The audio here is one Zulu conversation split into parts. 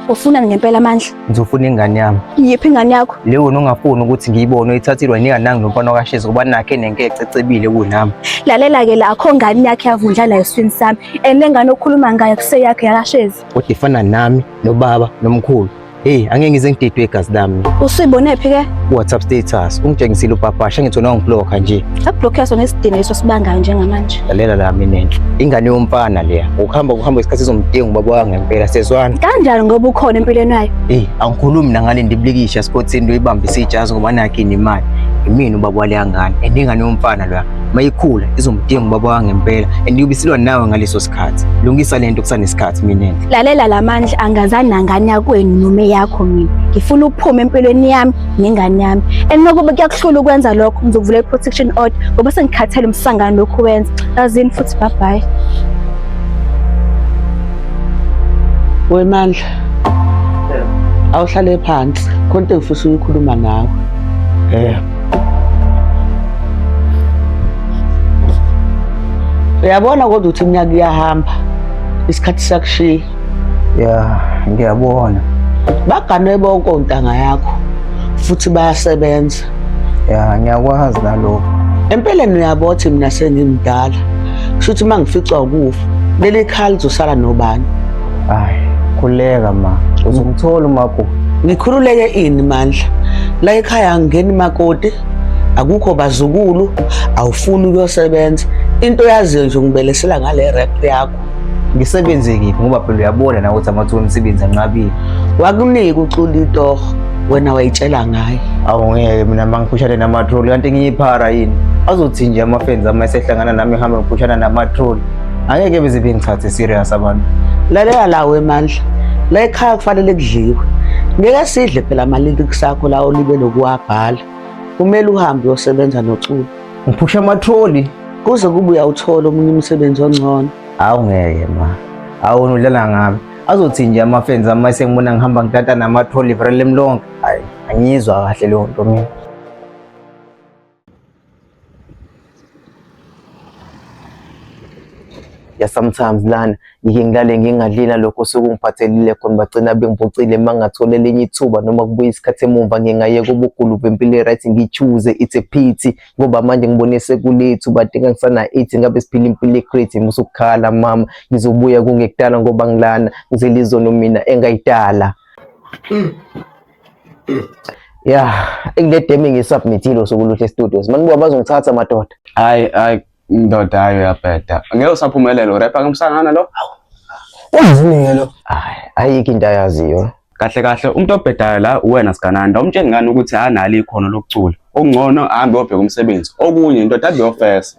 Ufuna ngempela amandla? Ngizofuna ingane yami. Yiphi ingane yakho? Le wena ongafuni ukuthi ngiyibone uyithathilwa yini kanangi nomfana wakashezi ngoba nakhe nenkece ecebile kunami. Lalela ke la akho ngane yakhe yavundla la eswini sami. Ene ngane okhuluma ngayo kuseyakhe yakashezi. Kodwa ifana nami nobaba nomkhulu. Hey, angeke ngize ngididwe igazi lami. Usuyibone phi ke? WhatsApp status. Ungitshengisile ubhabhasha ngithi wena ungiblock nje. Akublock yaso ngesidingo leso sibangayo njengamanje. Lalela la mina enhle. Ingane yomfana leya. Ukuhamba ukuhamba isikhathi izomdinga ubaba wami ngempela sezwana. Kanjani ngoba ukhona empilweni yayo? Hey, angikhulumi nangale ndiblikisha sports into ibamba isijazi ngoba nakhe inimali. Imini ubaba wale ngane. Endingane yomfana loya. Mayikhula izomdinga ubaba wangempela. Endiyobisilwa nawe ngaleso kunesikhathi lungisa lento kusanesikhathi mina lalela lamandla angazana ngane yakwenu noma yakho mina ngifuna ukuphuma empilweni yami nengane yami and nokuba kuyakuhlula ukwenza lokho ngizokuvula i-protection order ngoba sengikhathele umsangano lokhu wenza azini futhi bye bye wemandla awuhlale phansi khona into engifisa ukukhuluma nawe eh Uyabona kodwa ukuthi iminyaka iyahamba isikhathi sakushiya. Ya, ngiyabona. Baganwe bonke ontanga yakho futhi bayasebenza. Ya, ngiyakwazi nalokho. Empeleni uyabothi mina sengimdala. Kusho ukuthi mangificwa ukufa, leli khali zosala nobani? Hayi, khuleka ma. Uzomthola umakoti. Ngikhululeke ini mandla? La ekhaya angingeni makoti. Akukho bazukulu, awufuni ukuyosebenza. Into yaziyo nje ngibelesela ngale rap yakho. Ngisebenze kiphi ngoba phela uyabona nawe ukuthi amathuba emisebenzi anqabile. Wakunika ucula itoho wena wayitshela ngaye. Awu ngeke mina mangiphushane namatroli kanti ngiyiphara yini? Azothi nje amafenzi ama esehlangana nami ehambe ngiphushana namatroli. angeke beze bengithathe serious abantu lalela la wemandla la ekhaya kufanele kudliwe ngeke sidle phela amalili kusakho lawo libe lokuwabhala kumele uhambe uyosebenza noculo ngiphusha amatholi kuze kube uyawuthola omunye umsebenzi ongcono awu ngeke ma awona udlala ngami azothi nje amafenzi ama sengibona ngihamba ngitata namatholi vrele mlonke hayi angiyizwa kahle leyo nto mina ya sometimes lana ngike ngilale ngingadlila lokho sekungiphathelile khona bagcina bengiphucile mangathola elinye ithuba noma kubuya isikhathi emumva ngingayeka ubugulu bempilo right ngichuze it's a pity ngoba manje ngibone sekulethu badinga ngisana ethi ngabe siphila impilo ecreate musukukhala mama ngizobuya kungekudala ngoba ngilana ngizelizono mina engayidala mm. ya kule demi ngisubmithile usuku luhle studios manibuka bazongithatha madoda hayi hayi ndoda hayi uyabheda ngeke usaphumelela urepa kamsangana lo uyizini-ke lo hayi ayikho into ayaziyo kahle kahle umuntu obhedayo la uwena sigananda umtshengani ukuthi analo ikhono lokucula okungcono ahambe obheka umsebenzi okunye indoda abeyofesa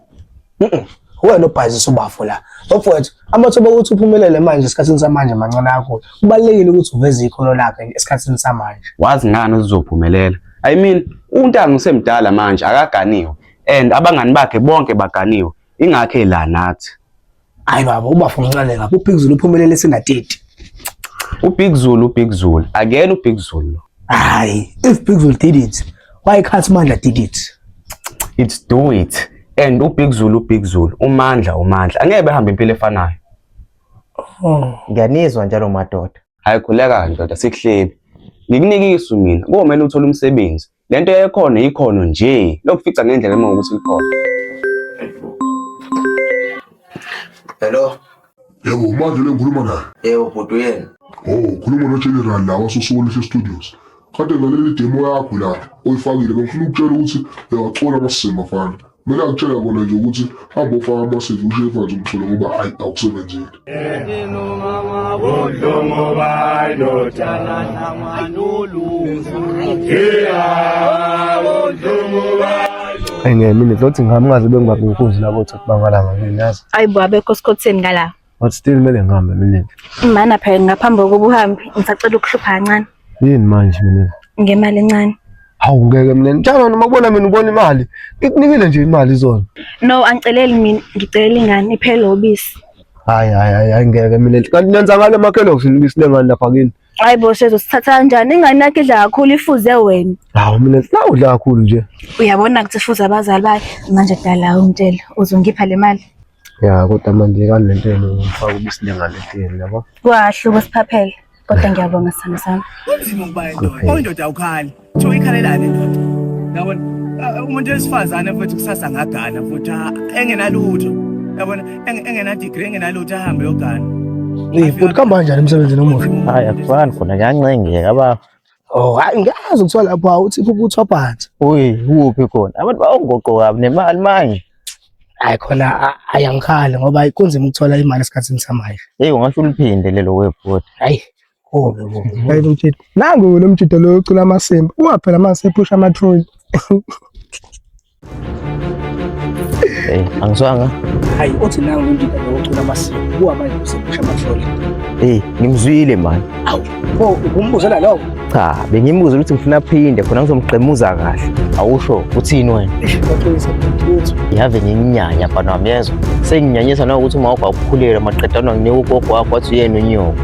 wena obhazisa ubafo la bafowethu amathuba okuthi uphumelele manje esikhathini samanje mancane kakhulu kubalulekile ukuthi uveze ikhono lakhe esikhathini samanje wazi ngani uzophumelela i mean untanga usemdala manje akaganiwe and abangani bakhe bonke baganiwe ingakhe la nathi Hayi baba ubafu mncane lapho uBig Zulu uphumelele sena 30. UBig Zulu uBig Zulu akena uBig Zulu lo. Hayi if Big Zulu did it why can't Mandla did it? It's do it and uBig Zulu uBig Zulu uMandla uMandla angeke behambe impilo efanayo. Oh. Ngiyanizwa njalo madoda. Hayi khuleka ndoda sikuhlebi. Ngikunikisa mina komele uthole umsebenzi lento yayikhona ikhono nje lokufica ngendlela uma ukuthi likhona hello yebo manje le ngikhuluma naye yebo bhuti uyena o oh, khuluma nogeneral la wasosuwoleshe studios kade ngaleli demo yakho la oyifakile bengifuna ukutshela ukuthi uyawacola amasimo afana Mina ngitshela kona nje ukuthi hambe ofaka amasidi usho imfanzi umthole ngoba ayi awusebenzile. Ayingemini ngizothi ngihamba ngaze bengibabukuzi labo ukuthi bangalanga nginazi. Ayibo abekho esikhotheni ngala. But still kumele ngihambe mina. Mana phela ngaphambi kokuba uhambe ngisacela ukuhlupha kancane. Yini manje mina? Ngemali encane. Hawu ngeke mina njalo noma kubona mina ubona imali. Ngikunikile nje imali izona. No angiceleli mina ngicela ingane iphele obisi. Hayi hayi hayi ngeke mina. Kanti nenza ngale makhelo ngifuna ubisi lengane lapha kini. Hayi bo sezo sithatha kanjani ingane yakhe idla kakhulu ifuze wena. Hawu mina la udla kakhulu nje. Uyabona ukuthi fuze abazali bakhe manje dala umtshela uzongipha le mali. Ya kodwa manje kanti lento yenu ngifaka ubisilengane etini yabo. Kwahluka siphaphele. Kodwa ngiyabonga sana sana. Kunzima ukuba indoda. Oyindoda awukhali. Kuthiwa ikhalelani indoda. Yabona ah, umuntu wesifazane futhi kusasa ngagana futhi ah, engenalutho. Yabona engena degree engenalutho ahambe yogana. Eh, futhi kamba kanjani emsebenzini omuhle? Hayi akufani khona kuyancengeka baba. Oh hayi ngiyazi kuthiwa lapho awuthi kubuthwa phansi. Uyi kuphi khona? Abantu bawongoqoka nemali manje. Hayi khona ayangikhali ngoba kunzima ukuthola imali esikhathini samanje. Hey ungasho uliphinde lelo webhodi. Hayi kubi kubi. Hayi umjito. Nangu lo mjito lo ucula amasimba. Ungaphela mase ephusha amatroli. Eh, angizwanga. Hayi, othi nawe umuntu ocula amasiko, kuwa manje usekusha amahlole. Eh, ngimzwile manje. Awu, pho ukumbuzela lokho? Cha, bengimbuza ukuthi ngifuna aphinde khona ngizomgqemuza kahle. Awusho uthini wena? Uqinisa ukuthi yave nginyanya bana wami yezwa. Senginyanyisa na ukuthi uma ugakhulelwa maqedana nginika ugogo wakho wathi uyena unyoko.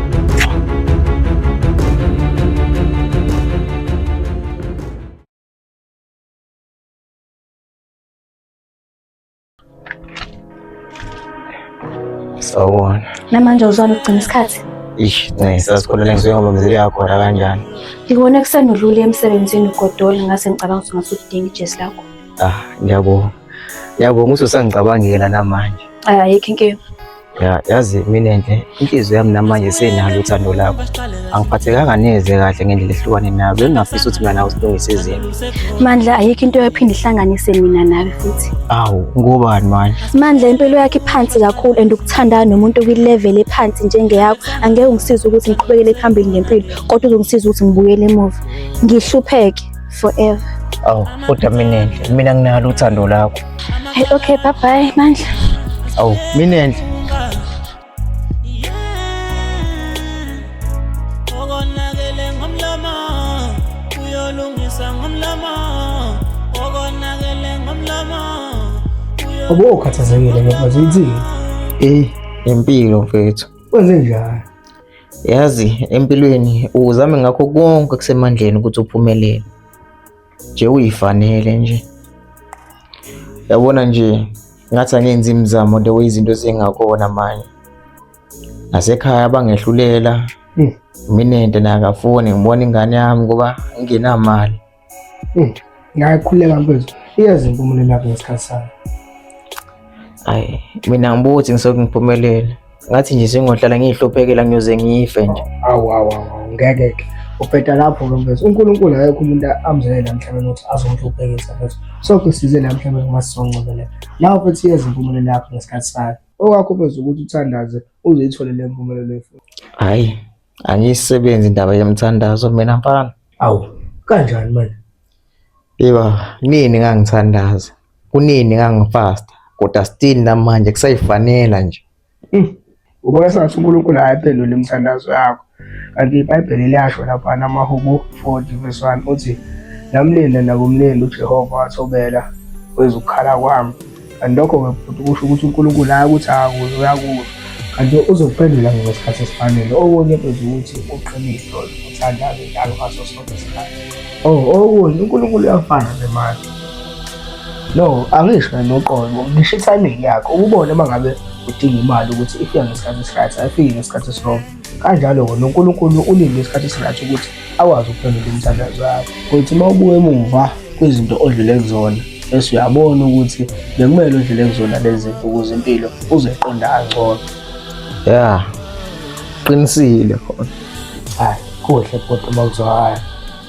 Sawubona. Namanje uzwana ukugcina isikhathi? Ish, ne sasikhona lengizoya ngoba mzeli yakho ra kanjani? Ngibona kusenodlule emsebenzini ugodola ngase ngicabanga ukuthi ngase udinga ijesi lakho. Ah, ngiyabonga. Ngiyabonga ukuthi usangicabangela namanje. Ayikho inkinga. Ya yazi mina nje inhliziyo yami namanje senalo uthando lakho. Angiphathekanga neze kahle ngendlela ehlukane nawe. Bengingafisa ukuthi mina nawe silungise izinto. Mandla ayikho into ephinde ihlanganise mina nawe futhi. Awu ngubani manje? Mandla impilo yakhe iphansi kakhulu and ukuthandana nomuntu kwi-level ephansi njengeyakho angeke ungisize ukuthi ngiqhubekele phambili ngempilo kodwa uzongisiza ukuthi ngibuyele emuva. Ngihlupheke. forever. Awu, kodwa Minenhle, mina nginalo uthando lakho. Hey, okay, bye bye, Mandla. Awu, Minenhle. Okonakele ngomlomo, uyolungisa ngomlomo. Okonakele ngomlomo. Abo ukhathazekile ngoba zithini? Eh, impilo mfethu. Kwenze njani? Yazi empilweni uzame ngakho konke kusemandleni ukuthi uphumelele. Nje uyifanele nje. Yabona nje ngathi angenzi imizamo the way izinto zingakona manje. Nasekhaya bangehlulela. Hmm. Mina into nakafuni ngibona ingane yami ngoba ngingenamali. Mm. Ngiyakhuleka mfethu. Iyazi impumelelo yakho ngesikhathi sayo. Hayi, mina ngibuka ukuthi ngisoke ngiphumelele. Ngathi nje sengohlala ngihluphekela ngiyoze ngife nje. Awu awu awu ngeke ke. Ubheda lapho ke mfethu. UNkulunkulu akekho umuntu amzele emhlabeni ukuthi azongihluphekisa mfethu. Soke size la emhlabeni uma sizoncobelela. Lawo mfethu iyazi impumelelo yakho ngesikhathi sayo. Okwakho mfethu ukuthi uthandaze uzithole le mpumelelo efuna. Hayi, Angiyisebenzi indaba yemthandazo mina mfana. Awu, kanjani manje? Yeba, nini ngangithandaza? Kunini ngangifasta? Kodwa still namanje kusayifanela nje. Ubona sengathi uNkulunkulu ayiphendule imithandazo yakho. Kanti iBhayibheli liyasho lapha namaHubo 40 verse 1 uthi namlinde nakumlindi uJehova wathobela wezukukhala kwami. kanti lokho-ke futhi kusho ukuthi unkulunkulu hayi ukuthi uyakuzwa kanti uzokuphendula ngesikhathi esifanele okunye beza ukuthi uqinile uthandaze njalo ngaso sonke isikhathi o oh, okunye unkulunkulu uyafana nemali no angisho noqobo ngisho itiming yakho ukubona uma ngabe udinga imali ukuthi ifika ngesikhathi esiryt ayifiki ngesikhathi esirongo Kanjalo-ke noNkulunkulu ulinde isikhathi esingaka ukuthi akwazi ukuphendula imithandazo yakho. Uthi uma ubuka emuva kwizinto odlule kuzona bese uyabona ukuthi bekumele udlule kuzona lezi zinto ukuze impilo uzoyiqonda kangcono. Ya, qinisile khona. Hhayi, kuhle kodwa uma kuzwakala.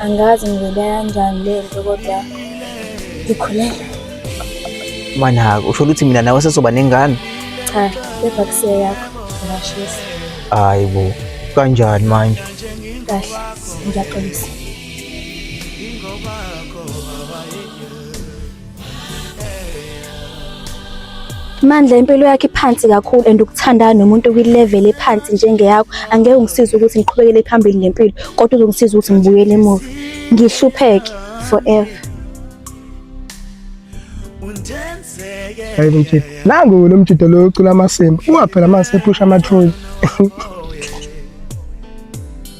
Angazi ngivele kanjani le nto kodwa ngikhulelwe. Manaka, usho ukuthi mina nawe sesoba nengane? Cha, kepha kusiya yakho ngashisa. Hayi bo, kanjani manje? Kahle, ngiyaxolisa. Mandla impilo yakhe iphansi kakhulu and ukuthandana nomuntu kwi-level ephansi njengeyakho angeke ungisize ukuthi ngiqhubekele phambili ngempilo kodwa uzongisiza ukuthi ngibuyele emuva ngihlupheke forever Hayi mjito. Nangu lo mjito lo ucula amasimba. Uwaphela mase ephusha amatroli.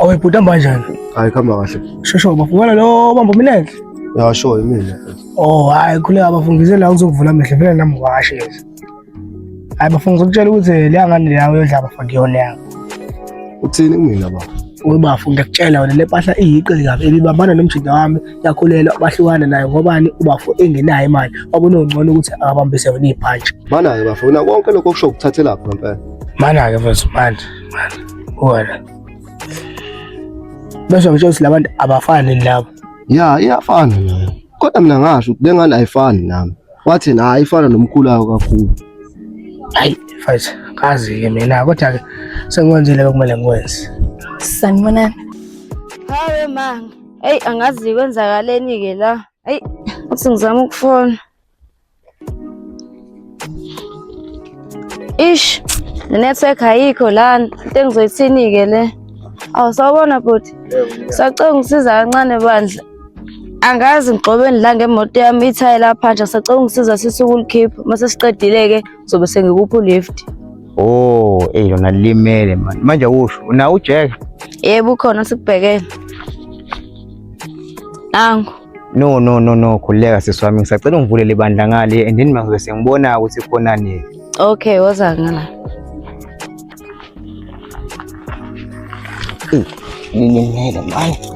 Awe bhuti hamba kanjani? Hayi khamba kahle. Shosho ubafungela lo bamba umlenze. Ya sho imina. Oh hayi khuleka bafungise la uzokuvula amehlo phela nami washe. Hayi bafungisa ukutshela ukuthi leya ngane leya uyodla bafake yona yakho. Uthini kumina baba? Uwe bafo ngiyakutshela wena le mpahla iyiqe kabi ebibambana nomjida wami yakhulelwa bahlukana naye ngobani ubafo engenayo imali wakunongcono ukuthi akabambise wena ibhantshi. Mana-ke bafo, wena konke lokho kusho ukuthathelaphi ngempela? Mana-ke mfethu manje. wena bese ngitshela ukuthi labantu abafani labo ya iyafana nayo kodwa mina ngasho ukuthi lengane ayifani nami wathi na ayifana nomkhulu wayo kakhulu hayi mfethu kazi-ke mina kodwa-ke sengikwenzile bekumele ngikwenze sanibonani hawe manga eyi angazi kwenzakaleni-ke la eyi uthi ngizama ukufona Ish, network ayikho lana. Into engizoyithini ke le? Awu sawubona bhuti. Sacela ungisiza kancane bandla. Angazi ngigxobeni la ngemoto yami ithayi lapha nje sacela ungisiza sisuke ulikhipha mase siqedile ke zobe sengikupha ulift. Oh, eh lona limele manje. Manje usho unawo uJack? Yebo ukhona sikubhekele. Nangu. No no no no, khuleka sisi wami, ngisacela ungivulele ibandla ngale and then mangizobe sengibona ukuthi khona nini. Okay, woza ngala. Ngilimele manje.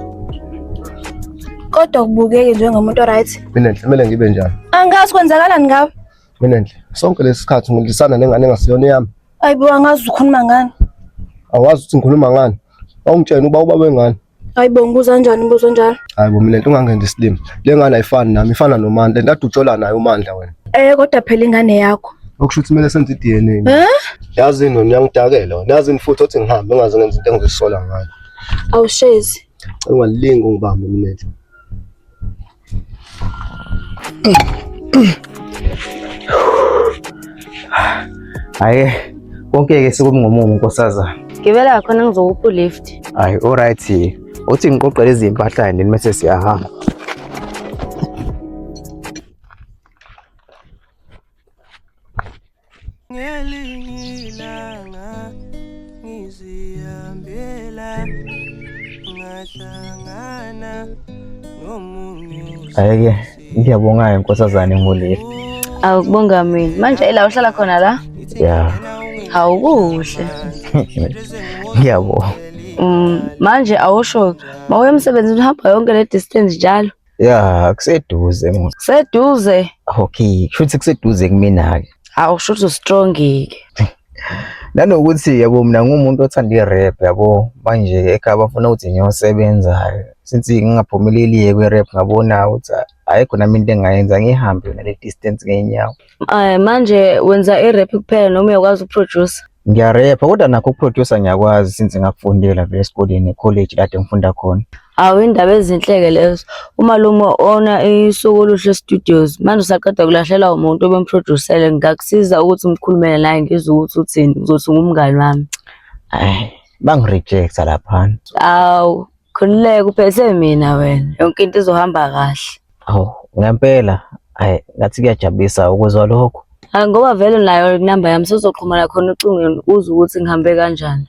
Kodwa kubukeke njengomuntu right. Mina kumele ngibe njani? Angazi kwenzakalani ngawe. Mina nje sonke lesikhathi ngilisana nengane engasiyona yami. Ayibo angazi ukhuluma ngani. Awazi ukuthi ngikhuluma ngani. Awungitshena uba ubaba wengane. Hayi bo ngibuza kanjani umbuzo onjalo? Hayi bo mina lento ungangenza isilima. Le ngane ayifani nami, ifana noMandla. Lento ade ujola nayo uMandla wena. Eh kodwa phela ingane yakho. Okusho ukuthi kumele senze i-DNA. Eh? Yazi yini wena uyangidakela wena. Yazi yini futhi othi ngihambe ungaze ngenze into engizisola ngayo. Awushezi. Ungalingi ungibambe mina. Hayi konke ke sekumngomumo nkosazana. Gibela khona ngizokupha ulift. Hayi alright. Uthi ngiqoqele izimpahla yini mase siyahamba. ngelingilanga ngizihambela ngahlangana nomunye ayeke ngiyabonga inkosazane ngoleli awukubonga mina manje ila uhlala khona la ya hawu kuhle ngiyabonga um manje awusho mawuye emsebenzini uhamba yonke le distance njalo Ya, kuseduze mos. Seduze. Okay, kushuthi kuseduze kumina ke. Awu kushuthi ustrongike. Nanokuthi yabo mina ngumuntu othanda i-rap yabo manje ekhaya bafuna ukuthi ngiyosebenza since ngingaphumeleli kwe-rap ngabona ukuthi ayikho nami into engayenza ngihambe nale distance ngenyawo. Eh manje wenza i-rap kuphela noma uyakwazi ukuproducer? Ngiyarepa kodwa nakho ukuproducer ngiyakwazi since ngakufundela vele esikoleni e-college kade ngifunda khona. Awu indaba ezinhleke lezo. Umalume ona isuku oluhle studios. Manje usaqeda kulahlela umuntu obemproducele ngakusiza ukuthi ngikhulumele naye ngizwe ukuthi uthini. Uzothi ngumngani wami. Ay, bangirejecta laphana. Awu Khululeka uphethe mina wena. Yonke into izohamba kahle. Awu, ngempela ayi ngathi kuyajabulisa ukuzwa lokho. Hayi ngoba vele nayo inamba yami sozoxhumana khona ocingweni uzwe ukuthi ngihambe kanjani.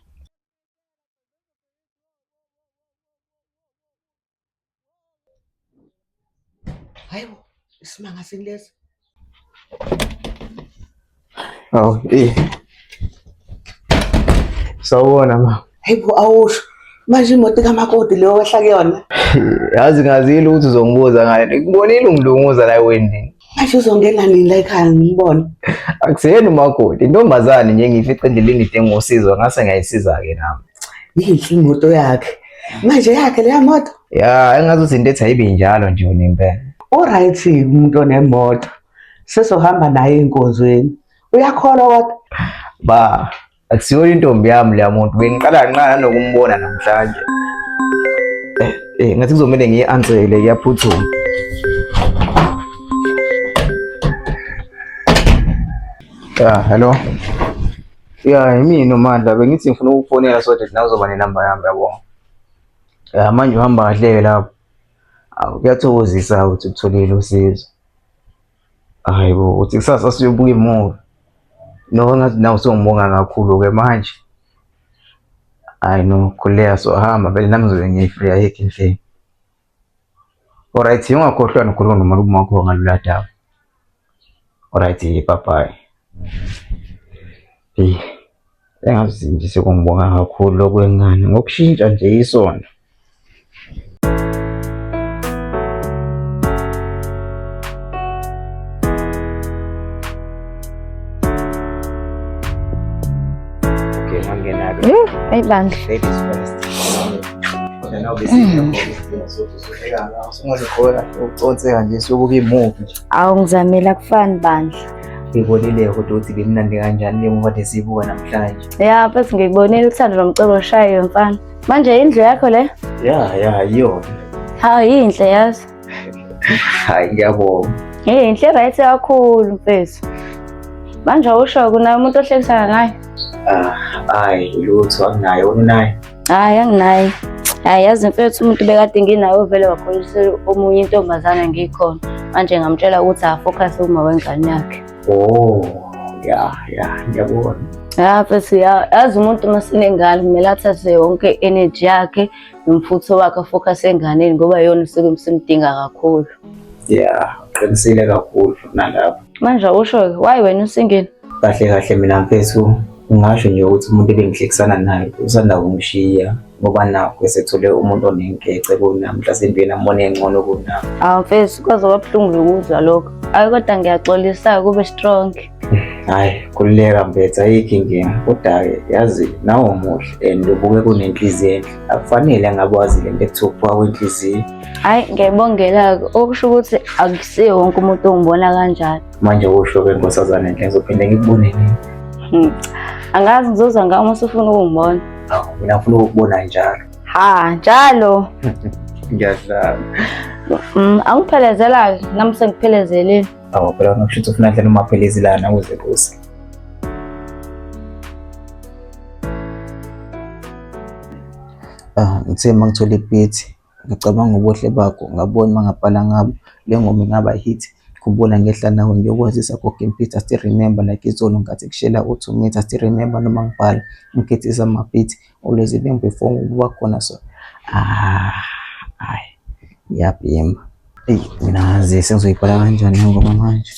Hayi bo, isimanga sini lesi? Awu, eh. Sawubona ma. Hayi bo awusho. Manje imoto kamakoti leyo wehla kuyona. Yazi ngazile ukuthi uzongibuza ngayo. Ngikubonile ungilunguza la wendini. Manje uzongena nini la ekhaya ngimbone? Akuseni umakoti, intombazane nje ngifice endleleni idinga usizo ngase ngayisiza-ke nami. Yinhle imoto yakhe. Manje yakhe leya moto? Ya, engazi ukuthi into ethi ayibi njalo nje yona impela. Uright umuntu onemoto. Sesohamba naye enkonzweni. Uyakholwa kodwa? Ba, Akusiyo intombi yami leya muntu. Bengiqala kancane nokumbona namhlanje. Eh, eh ngathi kuzomele ngiyi-ansele iyaphuthuma. Ya, hello. Ya, yimi nomandla bengithi ngifuna ukufonela so that nawe uzoba nenamba yami yabo. Ya manje uhamba kahle lapho. Awu kuyathokozisa ukuthi utholile usizo. Hayi bo, uthi kusasa siyobuka imuvi. No, ngathi nawe usungibonga kakhulu-ke manje. Hayi no, khuleka sohamba vele nami ngizobe ngiyifreya yekho inhleni. Alright, ungakhohlwa nokhuluma nomalume wakho ngalula daba. Alright, bye bye. Eyi, engazi nje sekungibonga kakhulu okwengane ngokushintsha nje isonto. Okay, mangenalo. Yuu, ayi bandla. Ladies first. Then obviously, mm. uconse kanje sokuba imuvi nje. Awu ngizamile akufani bandla. Ngibonile ukuthi uthi bimnandi kanjani njengoba ndisibuka namhlanje. Ya mfethu ngikubonile uthando lomcebo oshayo mfana. Manje indlu yakho le? Ya ya yiyona. Hawu yinhle yazi. Hayi ngiyabonga. Hey inhle right kakhulu mfethu. Manje usho kunami umuntu ohlekisana naye? Ah, hayi lutho anginaye unaye. Hayi anginayo. Hayi yazi mfethu umuntu bekade nginayo vele wakholiswa omunye intombazana ngikhona. Manje ngamtshela ukuthi afocus uma wengane yakhe. Oh, ya ya ngiyabona. Ya mfethu ya yazi umuntu uma sinengane kumele athathe yonke energy yakhe nomfutho wakhe afocus enganeni ngoba yona usuke msimdinga kakhulu. Yeah, uqinisile kakhulu nalapho. Manje awusho-ke why wena usingeni? Kahle kahle mina mfethu ngingasho nje ukuthi umuntu ebengihlekisana naye usanda kungishiya ngoba nakho esethole umuntu onenkece kunami mhlasimbe yena mbona engcono kunami awu mfethu kwaze kwabuhlungu ukuzwa lokho ayi kodwa ngiyaxolisa kube strong hayi khululeka mfethu ayikho inkinga kodwa-ke yazi nawe umuhle and ubuke kunenhliziyo enhle akufanele ngabe wazi le nto ekuthiwa ukuphuka kwenhliziyo hhayi ngiyayibongela-ke okusho ukuthi akusiye wonke umuntu ongibona kanjalo Manje usho ke nkosazane nje ngizophinde ngikubone nini? Hmm. Angazi ngizoza nga uma usufuna ukungibona. Hawu, mina ngifuna ukukubona njalo. Ha, njalo. Ngiyadlala. Mm, angiphelezela ke, nami sengiphelezele. Hawu, phela unokusho ukuthi ufuna ndlela umaphelezi lana uze kuze. Ah, ngithe mangithola ipithi Ngacabanga ubuhle bakho ngabona uma ngabhala ngabo le ngoma ingaba hit Khumbula ngehla nawe ngiyokwazisa gogo impitha still remember like izolo ngathi kushela uthi umitha still remember noma ngibhala ngigethisa amabhithi always even before ukuba khona so ah ay ngiyabhema eyi mina ngazi sengizoyibhala kanjani ngoba manje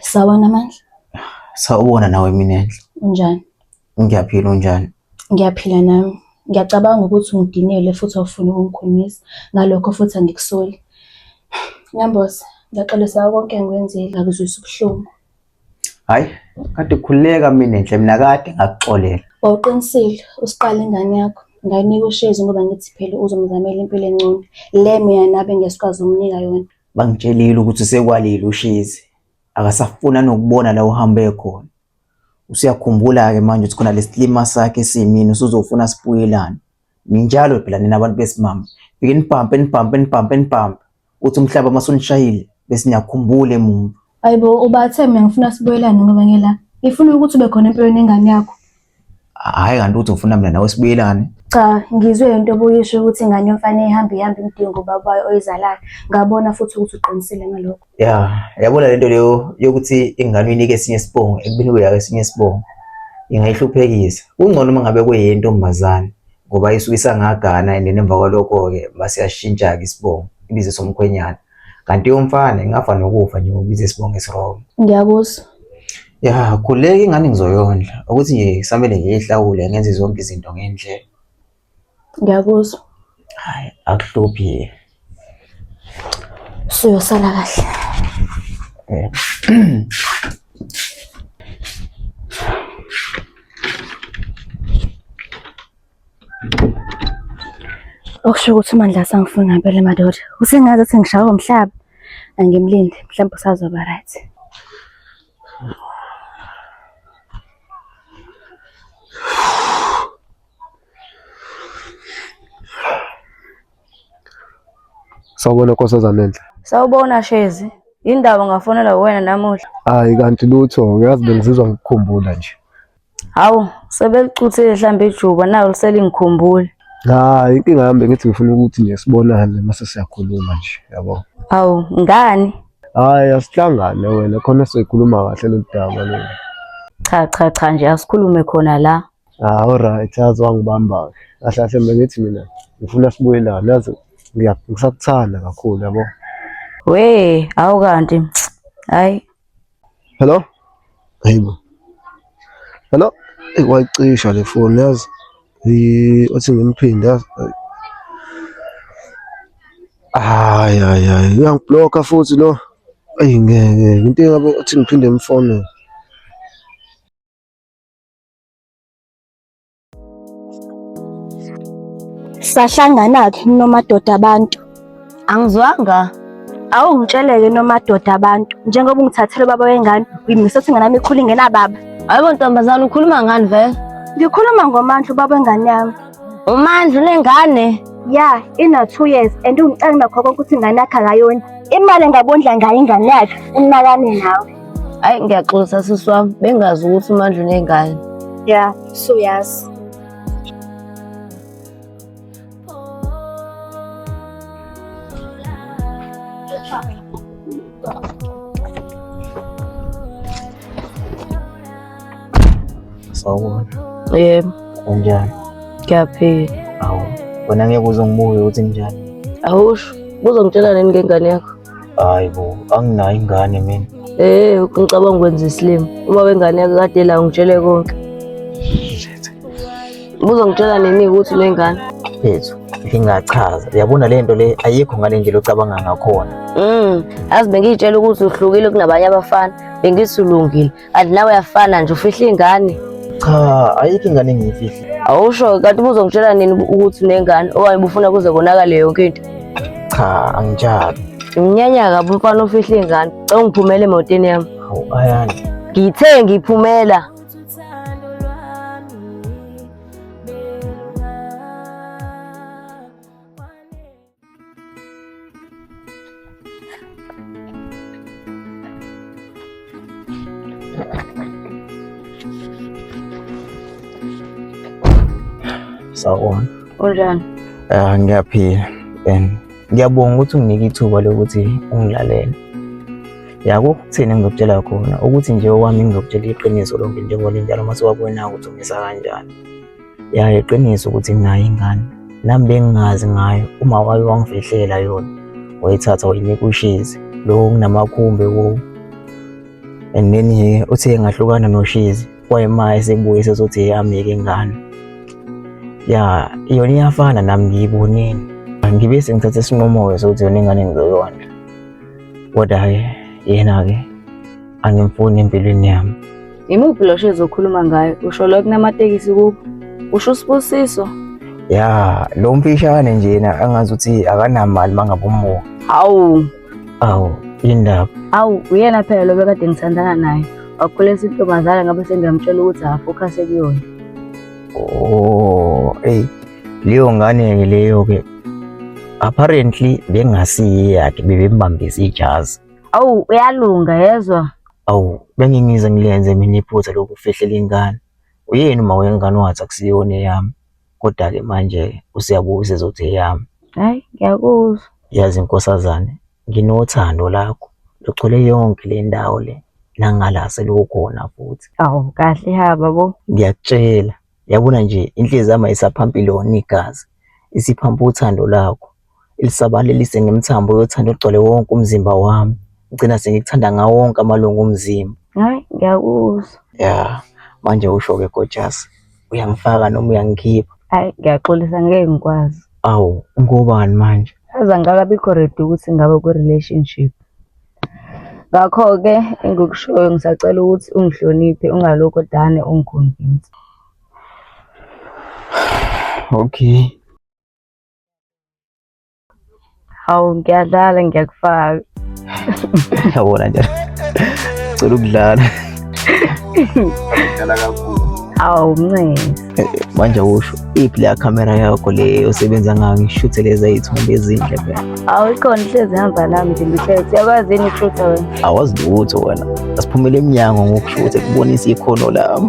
Sawona Mandla, sawubona nawe mina enhle unjani? Ngiyaphila unjani? Ngiyaphila nami. Ngiyacabanga ukuthi ungidinele futhi awufuni ukungikhulumisa. Ngalokho futhi angikusoli. Nambose, ngiyaxolisa ngakho konke engikwenzile. Ngakuzwisa ubuhlungu. Hayi, kade khuleka mina nhle mina kade ngakuxolela. Wawuqinisile, usiqala ingane yakho. Ngayinika ushezi ngoba ngithi phela uzomzamela impilo engcono. Le mina nabe ngesikwazi umnika yona. Bangitshelile ukuthi sekwalile ushezi. Akasafuna nokubona la uhambe khona. Usuyakhumbula-ke manje ukuthi khona lesilima sakhe esimini usuzofuna sibuyelane. Ninjalo phela nina abantu besimame. Fike nibhampe nibhampe nibhampe nibhampe. Uthi umhlaba masunishayile bese niyakhumbula emuva. Ayibo ubathe mina ngifuna sibuyelane ngoba ngela. Ngifuna ukuthi ube khona empilweni yengane yakho. Hhayi kanti uthi ufuna mina nawe sibuyelane. Cha ngizwe into obuyisho ukuthi ingane yomfana ihambe ihambe imdinga ubaba wayo oyizalayo. Ngabona futhi ukuthi uqinisile ngalokho. ya yabona lento leyo yokuthi ingane uyinike esinye isibongo ekubeni kuyaka esinye isibongo ingayihluphekisa kungcono uma ngabe kuyentombazane ngoba isuke isangagana and nemva kwalokho-ke basiyashintsha-ke isibongo ibize somkhwenyana kanti yomfana ingafa nokufa nje ngokubiza isibongo esirong ngiyakuzwa ya khuleka ingane ngizoyondla ukuthi nje kusamele ngiyihlawule ngenze zonke izinto ngendlela Ngiyakuzwa. Hayi, akuhluphi. Suyosala kahle. Eh. Okusho ukuthi uMandla sangifuni ngempela madoda. Usengazi ukuthi ngishawa umhlaba. Angimlindi, mhlawumbe usazoba right. Sawubona nkosazana enhle. Sawubona Shezi. Yindaba ngafonela wena namuhla. Hayi kanti lutho uyazi bengizizwa ngikukhumbula nje. Hawu sebelicuthile mhlambe ijuba nayo liselingikhumbula. Hayi inkinga yami bengithi ngifuna ukuthi nje sibonane mase siyakhuluma nje yabo. Hawu ngani? Hayi asihlangane wena khona sikhuluma kahle lolu daba lolu. Cha cha cha nje asikhulume khona la. Ah, alright, yazi wangibamba-ke. Kahle kahle bengithi mina ngifuna sibuyelane, yazi ngiya- ngisakuthanda kakhulu yabo. We, awu kanti. Hayi. Hello? Hayibo. Hello? Eyi wayicisha le foni yazi. Yi- Othi ngimphinde yazi. Ayi. Hayi hayi hayi uyangiblokha futhi lo. Eyi ngeke into engabe othi ngiphinde ngimfone. Sahlangana-ke nomadoda abantu. Angizwanga. Awu ngitsheleke nomadoda abantu njengoba ungithathele ubaba wengane uyimisa ukuthi ingane yami ikhule ingenababa. Hayibo ntombazane ukhuluma ngani vele? Ngikhuluma ngomandla ubaba wengane yami. Umandla unengane? Ya, ina two years and ungicela nakho konke ukuthi ingane yakhe akayona. Imali engabondla ngayo ingane yakhe unakane nawe. Hayi ngiyaxolisa sisi wami bengazi ukuthi uMandla unengane. Yeah, so yes. Sawubona. Yebo. Unjani? Ngiyaphila. Awu, wena ngeke uze ngibuke ukuthi kunjani. Awusho, uzongitshela nini ngengane yakho? Hayi bo, anginayo ingane mina. Eh, ngicabanga ukwenza isilima. Uma wengane yakhe kade la ungitshele konke. Buzongitshela nini ukuthi unengane? Yethu, ngingachaza. Uyabona le nto le ayikho ngale ndlela ocabanga ngakhona. Mm, azi bengiyitshela ukuthi uhlukile kunabanye abafana, bengisulungile. kanti nawe uyafana nje ufihla ingane cha ayikho ingane engiyifihli awusho kanti ubuzongitshela nini ukuthi unengane okanye ubufuna kuze konakale yonke into cha angitshali nginyanya kabi umfana ofihla ingane cela ungiphumele emotweni yami hawu ayani ngithe ngiphumela Sawubona. Unjani? Ah, ngiyaphila and ngiyabonga ukuthi unginike ithuba lokuthi ungilalele. Yako ukuthini engizokutshela khona ukuthi nje owami ngizokutshela iqiniso lonke njengoba linjalo uma siwabona ukuthi ungisa kanjani. ya iqiniso ukuthi nginayo ingane nami bengingazi ngayo uma wake wangifihlela yona wayithatha wayinika ushizi lokho kunamakhumbi wo and then he uthe ngahlukana noshizi wayema esebuye sezothi eyamike ingane ya yona iyafana nami ngiyibonini ngibe sengithathe isinqumo-ke sokuthi yona ingane ngizoyondla kodwa-ke yena-ke angimfuni empilweni yami. Imuphi lo shezi okhuluma ngayo? Usho lo kunamatekisi kubo. Usho usibusiso. Ya, lo mfishane njena angazi ukuthi akanamali mangabe umuka. Hawu, Awu, indaba. awu uyena phela lo bekade ngithandana naye. Wakhulisa intombazana ngabe sengiyamtshela ukuthi afocuse kuyona. Oh, hey. Leyo ngane ke leyo ke. Apparently bengasiyi yakhe bebembambisa ijazi. Awu uyalunga yezwa. Awu bengingize ngilenze mina iphutha lokufihlela ingane. Uyini uma wengane wathi akusiyona eyami. Kodwa ke manje usiyabuza ezothi eyami. Hayi ngiyakuzwa. Yazi inkosazane nginothando lakho lugcwele yonke le ndawo le nangala selukhona futhi. Awu kahle haba bo. Ngiyakutshela yabona nje inhliziyo yami ayisaphampi lona igazi isiphampa uthando lakho. lisabalalise ngemithambo yothando egcwale wonke umzimba wami. Ngigcina sengikuthanda ngawo wonke amalungu omzimba. Hayi, ngiyakuzwa. Ya, manje usho-ke gojasi. Uyangifaka noma uyangikhipha? Hayi, ngiyaxolisa ngeke ngikwazi. Awu, ngobani manje? Aze angikakabikho ready ukuthi ngabe kwi-relationship. Ngakho-ke engikushoyo ngisacela ukuthi ungihloniphe ungalokho dane ungikhonvinsa. Okay. Hawu ngiyadlala ngiyakufaka. Yabona nje. Cela ukudlala. Ngiyadlala kakhulu. Hawu mncane. Eh, manje usho iphi le camera yakho le osebenza ngayo ngishuthe lezi izithombe ezinhle phela. Hawu ikhona ihlezi hamba nami nje ngithethe. Uyakwazi yini ukushutha wena? Awazi lutho wena. Asiphumele emnyango ngokushuthe kubonisa ikhono lami.